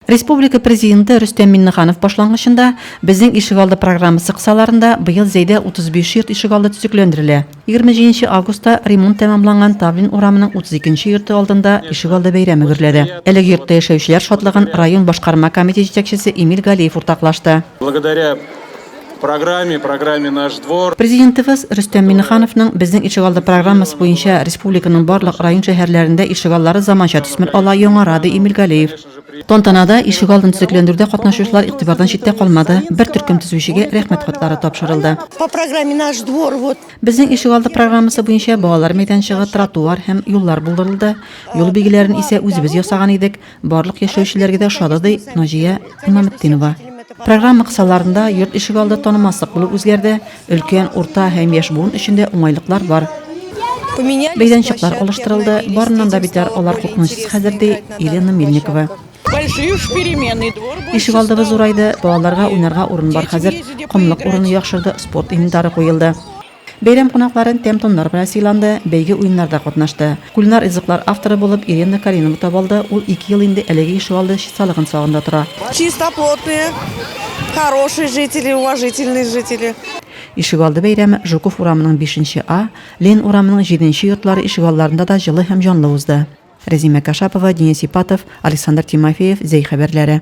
Республика Президенты Рөстәм Миңнеханов башлангычында Безнең ишегалды программасы кысаларында быел Зәйдә 35 йорт ишегалды төзекләндерелә. Егерме җиденче августта ремонт тәмамланган Тавлин урамының 32 нче йорты алдында ишегалды бәйрәме гөрләде. Әлеге йортта яшәүчеләр шатлыгын район башкарма комитет җитәкчесе Эмиль Галиев уртаклашты. Благодаря программе, программе Наш двор. Президентыбыз Рөстәм Миңнехановның Безнең ишегалды программасы буенча республиканың барлык район-шәһәрләрендә ишегаллары заманча төсмер ала, яңара, ди Эмиль Галиев. Тантанада ишегалдын төзекләндерүдә катнашучылар игътибардан читтә калмады, бер төркем төзүчегә Рәхмәт хатлары тапшырылды. По программе Наш двор вот. Безнең ишегалды программасы буенча балалар мәйданчыгы, тротуар һәм юллар булдырылды, юл билгеләрен исә үзебез ясаган идек, барлык яшәүчеләргә дә ошады, ди Наҗия Имаметдинова. Программа кысаларында йорт ишегалды танымаслык булып үзгәрде. Өлкән, урта һәм яшь буын өчен дә уңайлыклар бар. Бәйләнчекләр алыштырылды, барыннан да битәр алар куркынычсыз хәзер, ди Елена Мельникова. Ишек алдыбыз зурайды, балаларга уйнарга урын бар хәзер, комлык урыны яхшырды, спорт инвентары куелды. Бәйрәм кунакларын тәм-томнар белән сыйланды, бәйге-уеннарда катнашты. Кулинар ризыклар авторы булып Иренна Каринова табалды, ул ике ел инде әлеге ишегалды чисталыгын сагында тора. Чисто плотные, хорошие жители, уважительные жители. Ишегалды бәйрәме Жуков урамының бишенче А, Лен урамының җиденче йортлары ишегалларында да җылы һәм җанлы узды. Рәзимә Кашапова, Денис Ипатов, Александр Тимофеев, Зәй хәбәрләре.